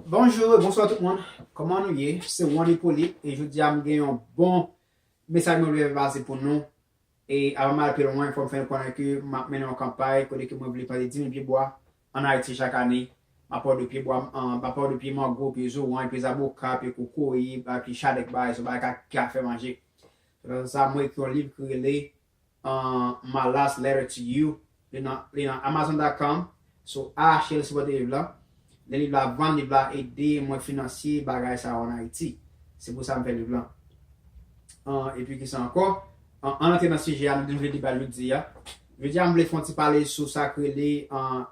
Bonjou e bonswa tout moun, kòman nou ye? Se Juan Hyppolite e jodi a m gen yon bon mesaj mwen vle pase pou nou e avan m al pi lwen fò m fè nou konnen ke m ap mennen yon kanpay kote ke mwen vle plante 10 mil pye bwa an Ayiti chak ane. M ap pale de pye bwa, m ap pale de pye mango, pye zoranj, pye zaboka, pye kokoye, pye chadèk bagay sa yo, bagay ki ka fè manje. Sa mwen ekri yon liv ki rele My last letter to you li nan li nan amazon.com sou ahache li sipòte liv la lè liv la ap vann liv la ede mwen finansye bagay sa yo an ayiti se pou sa m fè liv lan epi kisa ankò ann antre nan sijè a nou te vle deba jodi a jodi a m vle fon ti pale sou sa k rele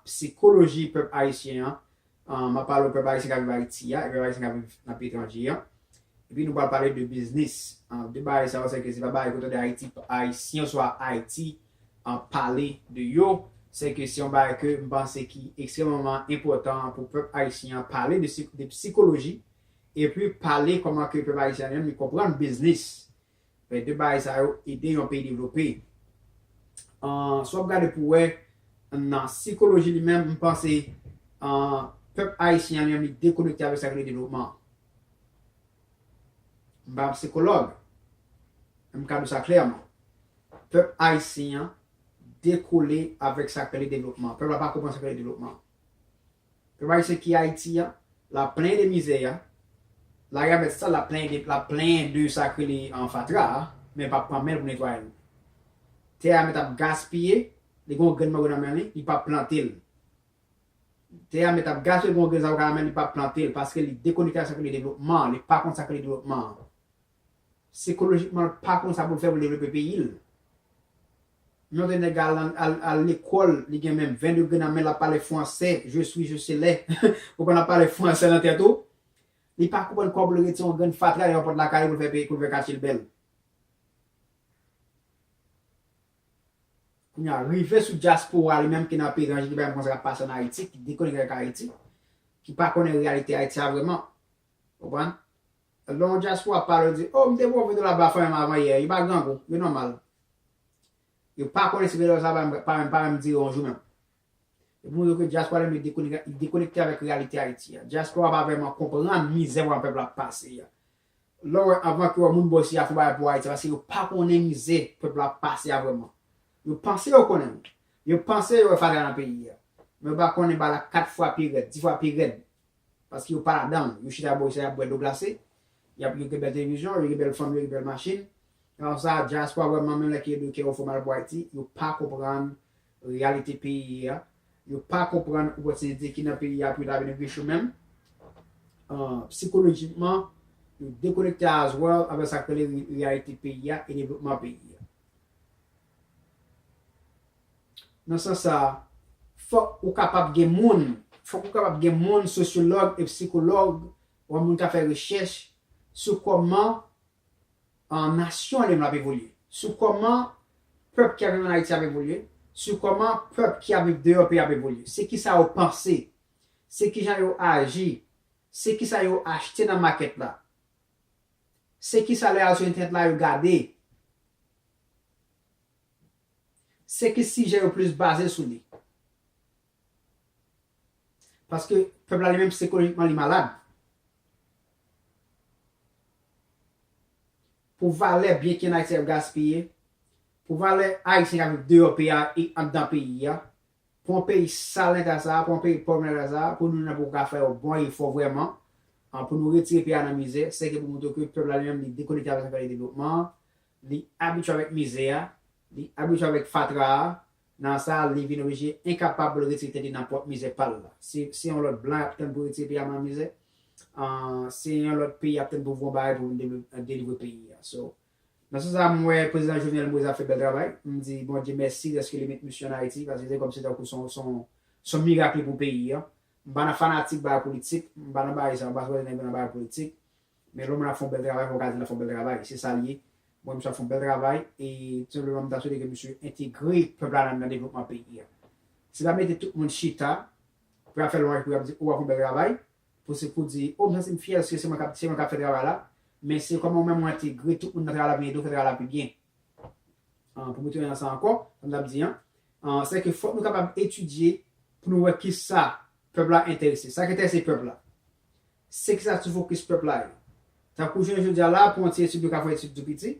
psikoloji pèp ayisyen an M ap pale ou pèp ayisyen k ap viv Ayiti a e pèp ayisyen k ap viv nan peyi etranje an. Epi nou pral pale de biznis. De bagay sa yo sèke se pa bagay ke w tande Ayiti, Ayisyen oswa Ayiti pale de yo. Sèke se yon bagay ke m panse ki ekstrèmman enpòtan pou pèp ayisyen an pale de psikoloji epi pale kòman ke pèp ayisyen an li menm li konprann biznis. Fè 2 bagay sa yo ede yon peyi devlope. Si w ap gade pou wè nan sikoloji li menm, m panse pèp ayisyen an li menm li dekonekte avèk sa ki rele devlopman. M pa sikològ, men m ka di w sa klèman. Pèp ayisyen an dekole avèk sa ki rele devlopman. Pèp la pa konprann sa ki rele devlopman. Pèp ayisyen ki Ayiti a, lap plenyen de mizè a, lari a mèt sal lap plenyen lap plenyen de sa k rele fatra a, men pap pran men l pou netwaye l. Tè a mèt ap gaspiye, li gen yon grenn mango nan men li, li pap plante l. Tè a mèt ap gaspiye li gen yon grenn zavoka nan men li pap plante l paske li dekonekte ak sa k rele devlopman an, li pa konn sa k rele devlopman an. Sikolojikman l pa konn sa pou l fè pou l devlope peyi l. Yon lè nèg la al lekòl, li gen men 20 degre nan men l, l ap pale fwansè, je swi, je selè, ou konn l ap pale fwansè nan tèt ou, li pa konprann kòman pou l retire yon grenn fatra deyò pòt lakay li pou l fè katye l bèl. Kounye a, rive sou dyaspora li menm ki nan peyi etranje, ki pa menm konn sa k ap pase ann Ayiti, ki dekonekte ak Ayiti, ki pa konnen reyalite Ayiti a vrèman. Ou konprann? Lè yon dyaspora pale yo di, oh m te pran yon video la ba fanmi m avan yè, yo pa grangou, yo nòmal. Yo pa konnen si video sa pa menm pa menm dire yon jou menm. Epi mwen wè ke dyaspora li menm li dekonekte avèk reyalite Ayiti a. Dyaspora pa vrèman konprann mizè vrèman pèp la ap pase a. Lè w wè anvan ke moun bò isi a fè yon bagay pou Ayiti, se paske yo pa konnen mizè pèp la ap pase a vrèman. Yo panse yo konnen. Yo panse yo wè fatra nan peyi a. Men yo pa konnen bagay la 4 fwa pi rèd, 10 fwa pi rèd. Paske yo pa ladan l. Yo chita bò yo sa y ap bwè dlo glase. Y ap yo gen bèl televizyon, yo gen bèl fanmi, yo gen bèl machin. Alò sa dyaspora wè manman l la ki rele yo kè yo fè mal pou Ayiti. Yo pa konprann reyalite peyi a. Yo pa konprann opòtinite ki nan peyi a pou yo ta vin rich yo menm. Psikolojikman, yo dekonekte as well avèk sa k rele reyalite peyi a e devlopman peyi a. Nan sans sa a, fòk ou kapab gen moun, fòk ou kapab gen moun sosyològ e psikològ, wè moun k ap fè rechèch sou kòman nasyon li menm ap evolye, sou kòman pèp ki ap viv ann Ayiti ap evolye, sou kòman pèp ki ap viv deyò peyi a ap evolye, se kisa yo panse, se kijan yo aji, se kisa yo achte nan makèt la, se kisa lè y al sou entènèt la yo gade, Se ki sijè yo plis baze sou li. Paske pèp la li menm sikolojikman li malad. Pou valè byen ki an Ayiti ap gaspiye, pou valè Ayisyen k ap viv deyò peyi a e anndan peyi a, pou yon peyi sal nan eta sa a, pou yon peyi pòv nan eta sa a, pou nou menm pou nou ka fè yon bon efò vrèman pou nou retire peyi a nan mizè, se ki pou montre ke pèp la li menm li dekonekte avèk zafè devlopman an. Li abitye avèk mize a, li abitye avèk fatra a, nan sa a li vin oblije enkapab pou l retire tèt li nan pwòp mizè pa l la. Si se yon lòt blan y ap tann pou retire peyi a nan mizè, se yon lòt peyi y ap tann pou voun bagay pou vin delivre peyi a. So, nan sans sa a m wè prezidan Jovenel Moïse ap fè bèl travay. M di Bondye mèsi dèske li met misye ann Ayiti paske se kòmsi tankou se yon mirak li pou peyi a. M pa nan fanatik bagay politik, m pa nan bagay sa yo, m pa sipòte nèg yo nan bagay politik. Men lòm la ap fon bèl travay fò ka di lap fon bèl travay se sal ye mwen misye ap fon bèl travay e tout senpleman mta swete ke misye entegre pèp la nan devlopman peyi a se pa mete tout moun chita pou yap fè lwanj pou yap di ou wap fon bèl travay pou se pou di oh m santim fyè ske se mwen kap se mwen kap fè travay la men se kòman ou menm ou entegre tout moun nan travay la pou yo ede w fè travay la pi byen an pou m retounen nan sa ankò sa m tap di an an se ke fòk nou kapab etidye pou nou wè kisa pèp la enterese sa ki enterese pèp la Se ki sa ti fokis pèp la ye. Tankou jounen jodi a la a, pou yon ti etid yo ka fè yon etid tou piti.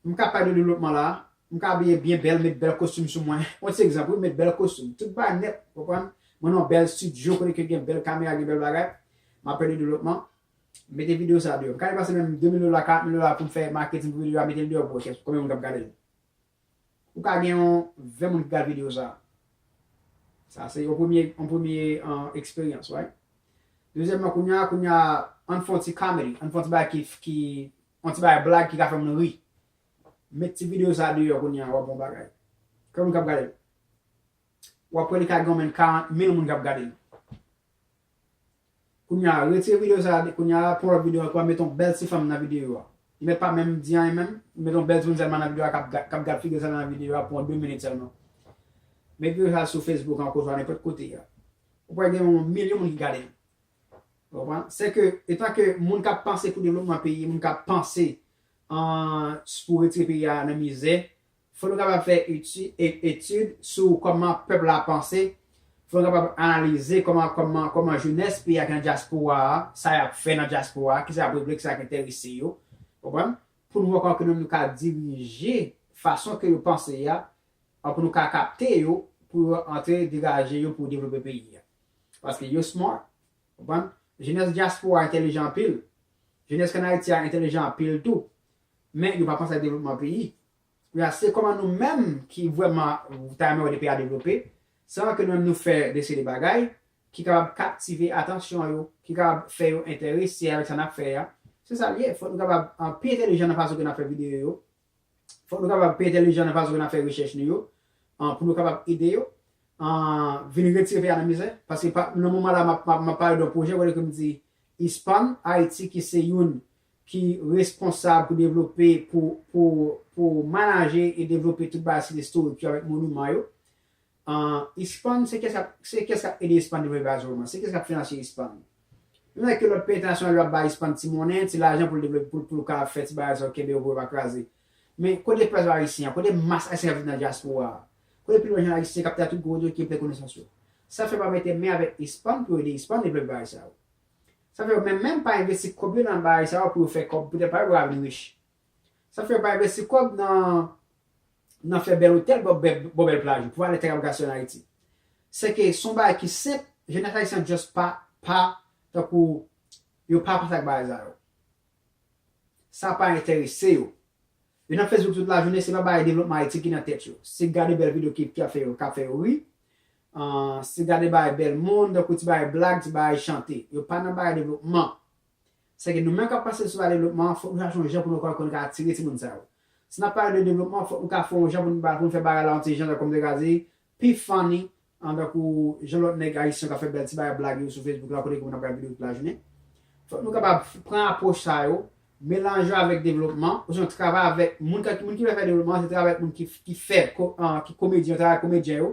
M ka pale de devlopman la a, m ka abiye byen bèl, met bèl kostim sou mwen, yon ti egzanp wi, m met bèl kostim, tout bagay nèt, ou konprann, mwen nan yon bèl stidyo kote ke gen bèl kamera, gen bèl bagay, m ap fè de devlopman, m mete videyo sa deyò. M ka depase menm 2000 dola, 4000 dola pou m fè maketin pou videyo a, mete l deyò pou wè konbyen moun k ap gade l. Ou ka gen yon 20 moun ki gad video sa. Sa se yon premye yon premye eksperyans right. Dezyèmman kounya kounya ann fon ti comedy, ann fon ti bagay ki ki yon ti bagay blag ki ka fè moun ri. Met ti video sa deyò kounya wap gon bagay. Konbyen moun kap gadel? Ou ap wè li ka gen yon menn 40 mil moun kap gadel. Kounya retire video sa kounya la pran lòt video ankò met yon bèl ti fanm nan video a li mèt pa menm di anyen menm li mèt yon bèl timoun sèlman nan video a kap gad figil sèlman nan video a pou yon 2 minit sèlman met video sa sou facebook ankò oswa nenpòt kote a ou pral gen yon milyon moun ki gadel ou konprann se ke etan ke moun kap panse pou devlopman peyi moun kap panse an pou retire peyi a nan mizè Fò nou kapab fè etid sou kòman pèp la panse, fò nou kapab analize kòman jenès peyi a ki nan dyaspora a, sa y ap fè nan dyaspora a, ki sa y ap regle, ki sa ki enterese yo, ou konprann, pou nou wè kòman ke nou menm nou ka dirije fason ke yo panse a, pou nou ka kapte yo, pou yo antre degaje yo pou devlope peyi a. Paske yo smart, ou konprann, jenès dyaspora a entelijan anpil, jenès ki ann Ayiti a entelijan anpil tou, Men yo pa panse ak devlopman peyi. Kounya se kòman nou menm ki vrèman ta renmen wè 2 peyi a devlope, san ke nou menm nou fè de seri de bagay ki kapab kaptive atansyon yo, ki kapab fè yo enterese avèk sa n ap fè a. Se sa l ye. Fòk nou kapab pi entelijan nan fason ke n ap fè videyo yo. Fòk nou kapab pi entelijan nan fason ke n ap fè rechèch nou yo pou nou kapab ede yo vin retire peyi a nan mizè. Paske nan moman la m ap pale de yon pwojè kote ke m di ISPAN Ayiti ki se youn ki responsab pou devlope, pou, pou, pou manaje e devlope tout bagay sit istorik yo avèk moniman yo. Ahh ISPAN se kiyès kap, se kiyès kap ede ISPAN devlope bagay sa yo menm? Se kiyès kap finanse ISPAN? Menm lè ke lòt peyi entènasyonal yo ap bay ISPAN ti monnen, ti lajan pou l devlope, pou l, pou l ka fè ti bagay sa yo, kenbe yo pou yo pa kraze. Men kote pèp ayisyen an? Kote mas ayisyen kap viv nan dyaspora a? Kote pi bon jan ayisyen kap te a tout gwo otorite ki gen plè konesans yo? Sa fè pa mete men avèk ISPAN pou yo ede ISPAN devlope bagay sa yo? Sa fè yo menm menm pa envesti kòb yo nan bagay sa yo pou yo fè kòb, poutèt pa yo pou yo ka vin rich. Sa fè yo pa envesti kòb nan nan fè bèl otèl bò bò bèl plaj yo pou valè tè kap gaspiye an Ayiti. Sèke son bagay ki senp, jenès ayisyen an just pa pa tankou yo pa panse ak bagay sa yo. Sa pa enterese yo. Yo nan Facebook tout lajounen, se pa bagay devlopman Ayiti ki nan tèt yo. Se gade bèl video ki ap fè yo ri, se gade bagay bèl moun, tankou ti bagay blag, ti bagay chante. Yo pa nan bagay devlopman. Sèke nou menm k ap pase sou bagay devlopman, fòk nou chache yon jan pou nou ka konn ka atire timoun sa yo. Si n ap pale de devlopman, fòk nou ka fè yon jan pou nou fè bagay la yon ti jan, jan kòm m te ka di, pi funny, An tankou jan lòt nèg ayisyen kap fè bèl ti bagay blag yo sou Facebook la kote ke moun ap gad video tout lajounen. Fòk nou kapab pran apwòch sa yo, melanje yo avèk devlopman, osnon travay avèk moun kap, moun ki vle fè devlopman se travay avèk moun ki ki fè ki komedyen yo, travay ak komedyen yo,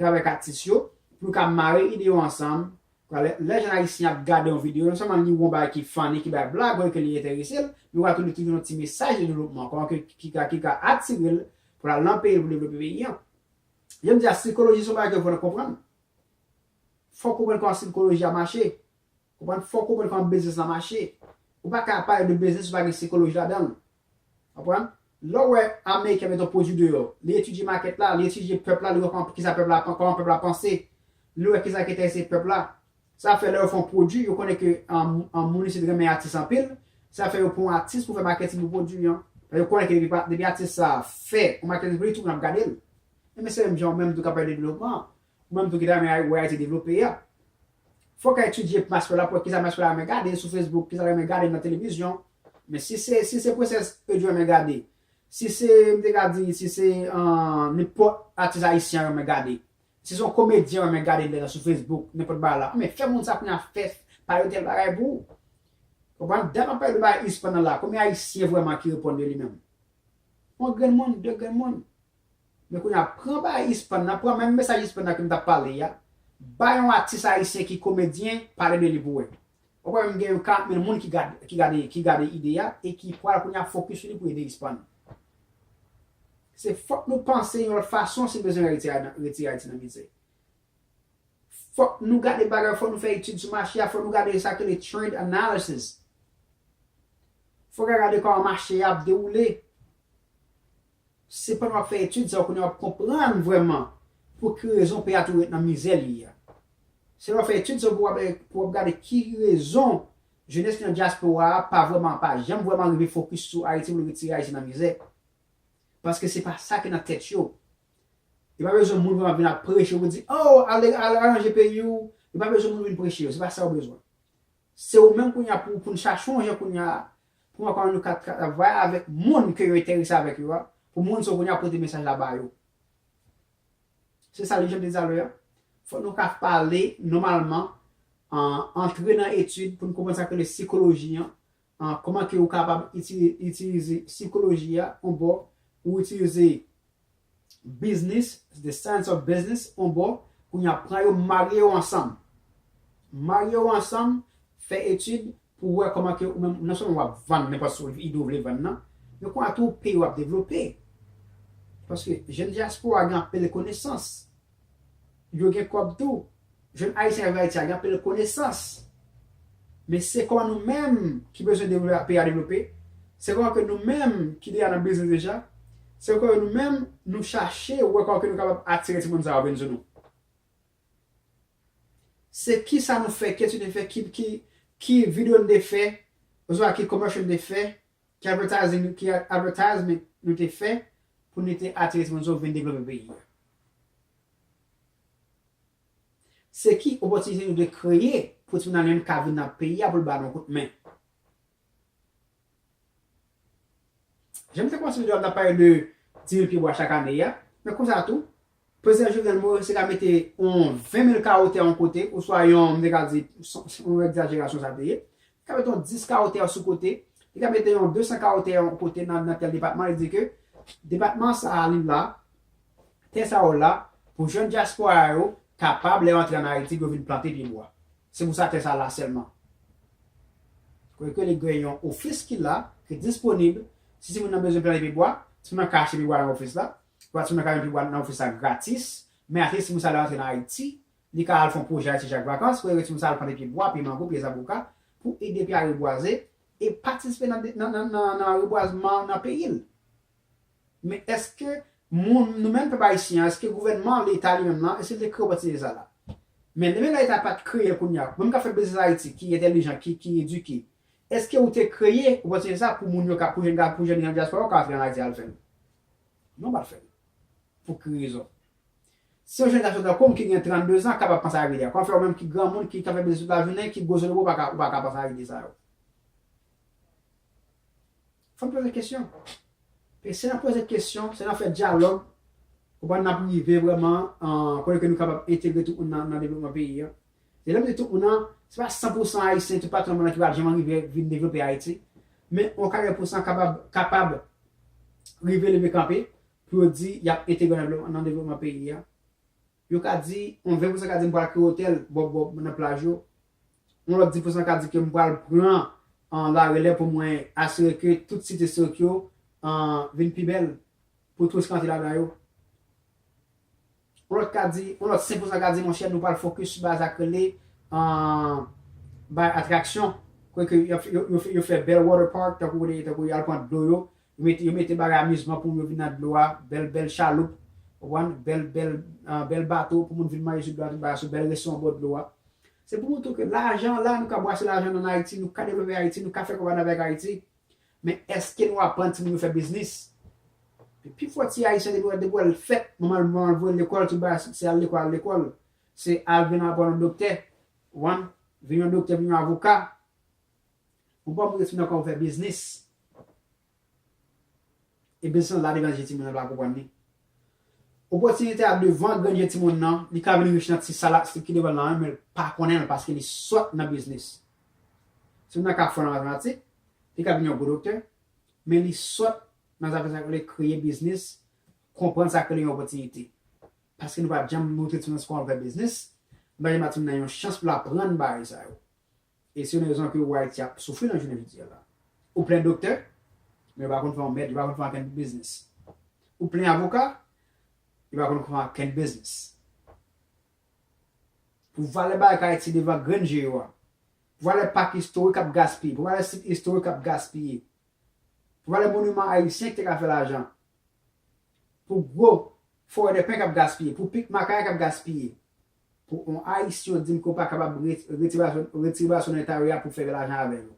travay ak atis yo, pou nou ka mare ide yo ansanm, pou lè lè jèn ayisyen ap gade yon video, non sèlman li wè yon bagay ki funny, ki bay blag, wè ke li enterese l, men wè tou li toujou yon ti mesaj de devlopman, kòman ke ki ka ki ka atire l pou l al nan peyi l pou devlope peyi an. Jan m di a, sikoloji se yon bagay ke fò n konprann. Fò w konprann kòman sikoloji a mache. Konprann? Fò w konprann kòman biznis la mache. Ou pa ka pale de biznis si pa gen sikoloji ladan l. Konprann? Lè w wè ameriken mete yon pwodui deyò, li etidye makèt la, li etidye pèp la, li wè kòman, kisa pèp la, kòman pèp la panse, li wè kisa ki enterese pèp la, Sa fè lè yo fè yon pwodwi, yo konnen ke moun isit renmen atis anpil, sa fè yo pran yon atis pou fè maketing pou pwodwi an. Paske yo konnen ke depi atis sa a fè yon maketing pou li, tout moun ap gade l. Enben se menm jan ou menm tou k ap pale de devlopman an, ou menm tou ki ta renmen wè Ayiti devlope a, fòk ou etidye maspè la pou wè kisa maspè la renmen gade sou Facebook, kisa l renmen gade nan televizyon. Men si se, si se Princess Eudjou renmen gade, si se, m te ka di, si se nenpòt atis ayisyen renmen gade, Si son komedyen ou renmen gade lè nan sou Facebook nenpòt bagay la anben fè moun sa kounya fè pa yo tèl bagay pou ou konprann dan ap pale de bagay ispan nan la konbyen ayisyen vrèman ki reponn de li menm yon grenn moun de grenn moun men kounya pran bagay ispan nan pran menm mesaj ispan nan ke m tap pale a bay yon atis ayisyen ki komedyen pale de li pou wè Ou kwè menm gen yon 4 mil moun ki gad ki gade ki gade ide a e ki pral kounye a fokis sou li pou ede ispan. Se fòk nou panse yon lòt fason si n bezwen retire a nan retire Ayiti nan mize. Fòk nou gade bagay yo fòk nou fè etid sou mache a fòk nou gade sa yo rele trend analysis. Fòk a gade kòman mache a ap dewoule. Se pandan w ap fè etid sa yo kounye a w ap konprann vrèman pou ki rezon peyi a toujou ret nan mizè li ye a. Se lè w fè etid sa yo pou w ap pou w ap gade ki rezon jenès ki nan dyaspora a pa vrèman pa janm vrèman rive fokis sou Ayiti pou l retire Ayiti nan mizè. Paske se pa sa ki nan tèt yo. Yo pa bezwen moun vrèman vin ap preche yo pou di, o! al al aranje peyi w. Yo pa bezwen moun vin preche yo. Se pa sa yo bezwen. Se ou menm kounye a pou pou n chache yon jan kounye a Pou mwen pa wè nou ka travay avèk moun ke yo enterese avèk yo a, pou moun sa yo kounya pote mesaj la ba yo. Se sa li jan m te di talè a. Fòk nou ka pale nòmalman, antre nan etid pou n konprann sa yo rele sikoloji an, kòman ke ou kapab itilize sikoloji a yon bò, ou itilize Biznis, The Science of Business, on bò, kounye a pran yo marye yo ansanm. Marye yo ansanm, fè etid pou w wè kòman ke ou menm non sèlman w ap vann nenpòt sou ide ou vle vann nan, men kounya tou peyi w ap devlope. Paske jèn dyaspora gen anpil konesans, Yo gen kòb tou. Jèn Ayisyen k ap viv Ayiti a gen anpil konesans. Men se kòman nou menm ki bezwen devlope peyi a devlope, se kòman ke nou menm ki deja nan biznis deja, se kòman ke nou menm nou chache wè kòman ke nou kapab atire timoun sa yo vin sou nou. Se kisa nou fè, ki etid nou te fè, ki videyo nou te fè oswa ki commercial nou te fè Ki advertising ki advertisement nou te fè pou nou te atire sponsor vin devlope peyi a? Se ki opòtinite nou te kreye pou timoun Almay ka vin nan peyi a pou l ba nou kout men? Jan m te kòmanse videyo a m t ap pale de 10,000 pyebwa chak ane a, men konsa tou, Prezidan Jovenel Moise te ka mete yon 20 mil kawo tè yon kote, oswa yon, m te ka di, yon egzajerasyon sa te ye, li ka mete yon 10 kawo tè sou kote, li ka mete yon 200 kawo tè yon kote nan tèl depatman, li di ke depatman sa a li la, tè sa yo la pou jèn dyaspora yo kapab lè yo antre ann Ayiti pou yo vin plante pye bwa. Se pou sa tè sa la sèlman. Kote ke li gen yon ofis ki la, ki disponib, si timoun nan bezwen plante pye bwa, timoun nan ka achte pye bwa nan ofis la, Pwat si mwen ka yon pibwat nan ofis la gratis, men ate timoun sa lè antre nan Ayiti, li ka al fon pwojè Ayiti chak vakans, wè reve timoun sa al plante pye bwa, pye mango, pye zaboka pou ede pye a rebwaze e patisipe nan rebwazman nan peyi l. Men eske moun, nou menm pèp ayisyen an, eske gouvènman, leta li menm lan, eske l te kreye opòtinite sa la? Men demen lè leta a pat kreye l kounye a, ou menm k ap fè biznis an Ayiti, ki entèlijan, ki edike, eske ou te kreye opòtinite sa pou moun yo ka, pou jèn gason, pou jèn dyaspora yo ka antre an Ayiti al fè l? Non pa fèl. Pou ki rezon? Si yon jèn gason tankou m ki gen 32 zan kapab panse ak ide a, kòman fè ou menm ki granmoun ki ka fè biznis tout lajounen, ki gwo zonobo pa ka ou pa ka panse ak ide sa yo? Fò n poze kesyon. E se nan poze kesyon, se nan fè dyalòg, konprann n ap rive vrèman kote ke nou kapab entegre tout moun nan devlopman peyi an. Mezanmi se tout moun nan, se pa 100 pou 100 Ayisyen tout pati nan mond lan ki pa janm rive vin devlope Ayiti, men yon 40 pou 100 kapab kapab rive leve kanpe pou yo di y ap entegre nan devlopman peyi a. Yo ka di, yon 20 pou 100 ka di m pral kreye otèl bò bò nan plaj yo, yon lòt 10 pou 100 ka di ke m pral pran larelè pou mwen asire ke tout site istorik yo vin pi bèl pou touris ka antre ladan yo. Yon lòt ka di, yon lòt 5 pousan ka di monchè nou pral fokis bay sa k rele bay atraksyon kote yo fè bèl water park tankou kote tankou y al pran dlo yo yo mete bagay amizman pou moun yo vin nan dlo a bèl bèl chaloup ou konprann bèl bèl bèl bato pou moun vin manje sou dlo a tout bagay sou bèl restoran bò dlo a se pou montre ke lajan la nou ka bwase lajan nou an Ayiti nou ka devlope Ayiti nou ka fè kòb ann avèk Ayiti. Men eske nou aprann timoun yo fè biznis? Men pi fò ti ayisyen depi wè depi wèl fèt manman l manman l voyel lekòl tout bagay se al lekòl al lekòl se al vin aprann yon doktè ou konprann vin yon doktè vin yon avoka ou pa pou yo fin nan kòw fè biznis. Ebyen san lari lan je timoun nan pa konprann li. Opòtinite a devan gran je timoun nan, li ka vin rich nan ti sa la ki devan l lan menl pa konnen l paske li sòt nan biznis. Timoun nan ka fò nan matematik, li ka vin yon gwo doktè, men li sòt nan zafè sa yo rele kreye biznis, konprann sa ki rele yon opòtinite. Paske nou pa janm montre timoun nan se kòman pou fè biznis, nou pa janm ba timoun nan yon chans pou l aprann bagay sa yo. E se yon rezon anpil wa Ayiti ap soufri nan jounen jodi a la. Ou plen doktè, men yo pa konn fè yon mèd, yo pa konn fè ankenn biznis. Ou plen avoka, yo pa konn fè ankenn biznis. Pou valè bagay k Ayiti devan grenn je yo a, pou valè pak istorik k ap gaspiye, pou valè sit istorik k ap gaspiye, pou valè moniman ayisyen ki te ka fè lajan, pou gwo forèdèpen k ap gaspiye, pou pik makaya k ap gaspiye, Pou on ayisyen yo dim ke ou pa kapab retire baso nan eta yo ya pou fè lajan avè yo.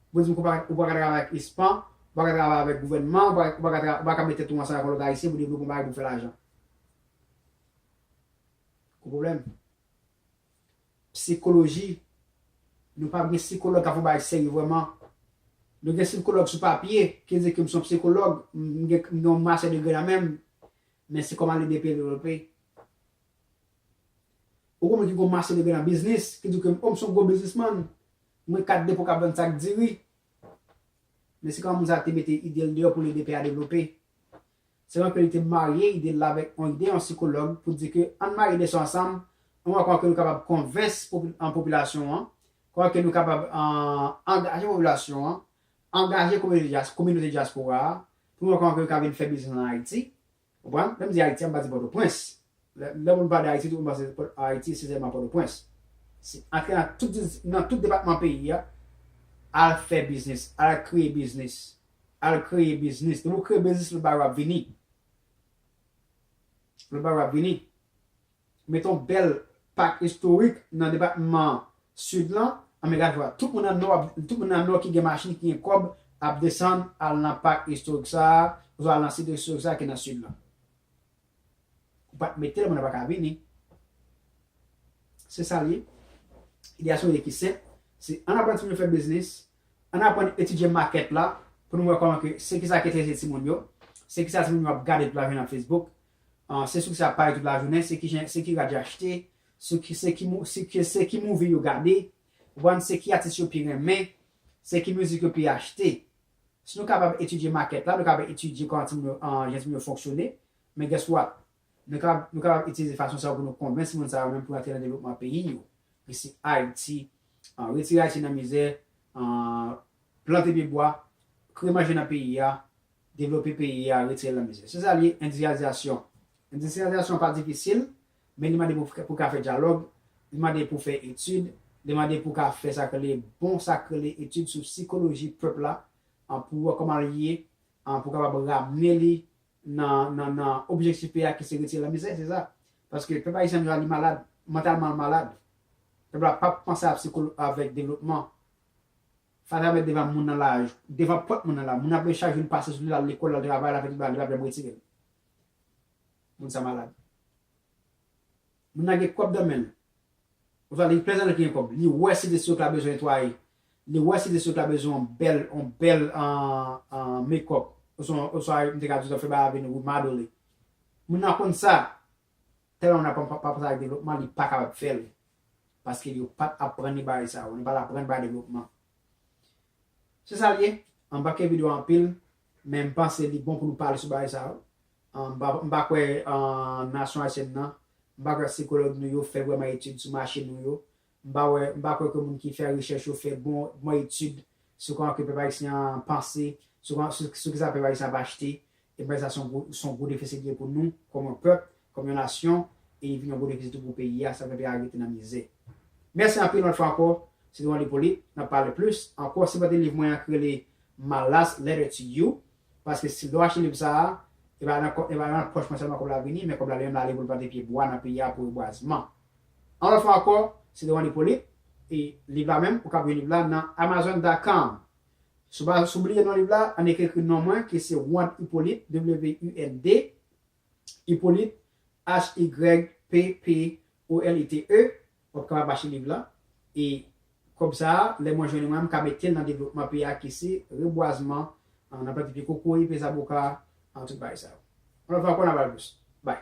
Pou dim ke ou pa ka travay avèk ispan, ou pa ka travay avèk gouvènman, ou pa ka met tèt ou ansanm avèk on lòt ayisyen pou devlope on bagay pou fè lajan. Gwo pwoblèm. Psikoloji, nou pa gen sikològ kap fè on bagay serye vrèman. Nou gen sikològ sou papye ki di ke m son psikològ, m gen on master degree nan menm, men se kòman lide peyi devlope. Ou konprann ki gwo mache li gen nan biznis, ki di ke m, o m se yon gwo biznismann, m gen kat depo k ap vann sak diri. Men se kòman moun sa te mete ide l deyò pou l ede pè a devlope. Se kòman ke li te marye ide l la avèk yon ide yon sikològ pou di ke ann marye de sa ansanm, ann wè kòman ke nou kapab konvense popilasyon an, kòman ke nou kapab angaje popilasyon an, angaje kominote dyaspora a, pou nou wè kòman ke yo ka vin fè biznis an Ayiti, Konprann? Lè m di Ayiti a, m pa di Pòtoprens. Lè moun pale de Ayiti, tout moun panse Ayiti se sèlman Pòtoprens. Se antre nan tout nan tout depatman peyi a, al fè biznis, al kreye biznis, al kreye biznis. Depi ou kreye biznis, lòt bagay yo ap vini. Lòt bagay yo ap vini. Mete yon bèl pak istorik nan depatman Sid lan. An men gad vwa, tout moun nan Nò ap, tout moun nan Nò ki gen machin, ki gen kòb ap desann al nan pak istorik sa a, oswa al nan sit istorik sa a ki nan Sid lan. Ou pa t mete l, moun nan pa ka vini. Se sa l ye. Ideyasyon li ki senp, se ann aprann timoun yo fè biznis, ann aprann etidye makèt la pou nou wè kòman ke se kisa ki enterese timoun yo, se kisa timoun yo ap gade tout lajounen nan Facebook, se sou ki sa y ap pale tout lajounen, se ki jen, se ki rad y achte, sou ki, se ki mou, se ki, se ki movie yo gade, ou konprann, se ki atis yo pi renmen, se ki mizik yo pi achte. Si nou kapab etidye makèt la, nou kapab etidye kòman timoun yo, jan timoun yo fonksyone, men guess what? Nou kapab, nou kapab itilize fason sa yo pou nou konvenk timoun sa yo menm pou yo antre nan devlopman peyi yo. Resi Ayiti, retire Ayiti nan mizè, plante pye bwa, kreye manje nan peyi a, devlope peyi a, retire l nan mizè. Se sa l ye, endistriyalizasyon. Endistriyalizasyon pa difisil, men li mande pou pou w ka fè dyalòg, li mande pou w fè etid, li mande pou w ka fè sa k rele bon sa k rele etid sou sikoloji pèp la, pou w wè kòman l ye, pou w kapab ramne li nan nan nan objektif peyi a ki se retire l nan mizè, se sa. Paske pèp ayisyen jodi a li malad, mantalman l malad. Pèp la pap panse avk avèk devlopman. Fatra met devan moun nan la devan pòt moun nan la moun nan pran chak jou li pase sou li lal lekòl lal travay lal fè tout bagay li pap janm retirel moun sa malad moun nan gen kòb nan menl oswa li plèzan lè ki gen kòb li wè site si yo ta bezwen netwaye li wè site si yo ta bezwen yon bèl yon bèl mekòp oswa mte ka di yo ta fè bagay avèn remodeling moun nan konn sa Tèlman moun ap panse ak devlopman li pa kapab fè l paske yo pa t aprann li bagay sa yo, li pa t aprann bagay devlopman. Se sa l ye, m pa kenbe dwèt anpil men m panse li bon pou nou pale sou bagay sa yo. M pa kwè nasyon ayisyèn nan, m pa kwè sikològ nou yo fè vrèman etid sou mache nou yo M pa wè, m pa kwè ke moun ki fè rechèch yo fè bon, bon etid sou kòman ke pèp ayisyen an panse, sou kòman, sou, sou kisa pèp ayisyen ap achte. E m panse sa se yon gwo, se yon gwo defisi li ye pou nou, kòm yon pèp, kòm yon nasyon, e li vin yon gwo defisi tou pou peyi a, sa fè peyi a rete nan mizè. Mèsi anpil yon lòt fwa ankò, se te yon liv polite, n ap pale plis ankò. Sipòte liv mwen an ki rele My Last Letter to You, paske si, lè w achte liv sa a, e pa nan kò, e pa nan pòch mwen sèlman kòb la vini, men kòb la li menm la ale pou l plante pye bwa nan peyi a pou rebwazman. Yon lòt fwa ankò, se devan Lipolit, e liv la menm, ou kab jwenn liv la nan Amazon dot com. Si w bliye non liv la, ann ekri ekri non mwen ki se Wond Hyppolite, W-U-N-D, Hyppolite, H-Y-P-P-O-L-I-T-E, w ap kapab achte liv la, e Kòb sa a, lè mwen jwenn mwen, m ka mete l nan devlopman peyi a ki se rebwazman, nan plante pye kokoye, pye zaboka, tout bagay sa yo. Yon lòt fwa ankò n a pale plis. Bye!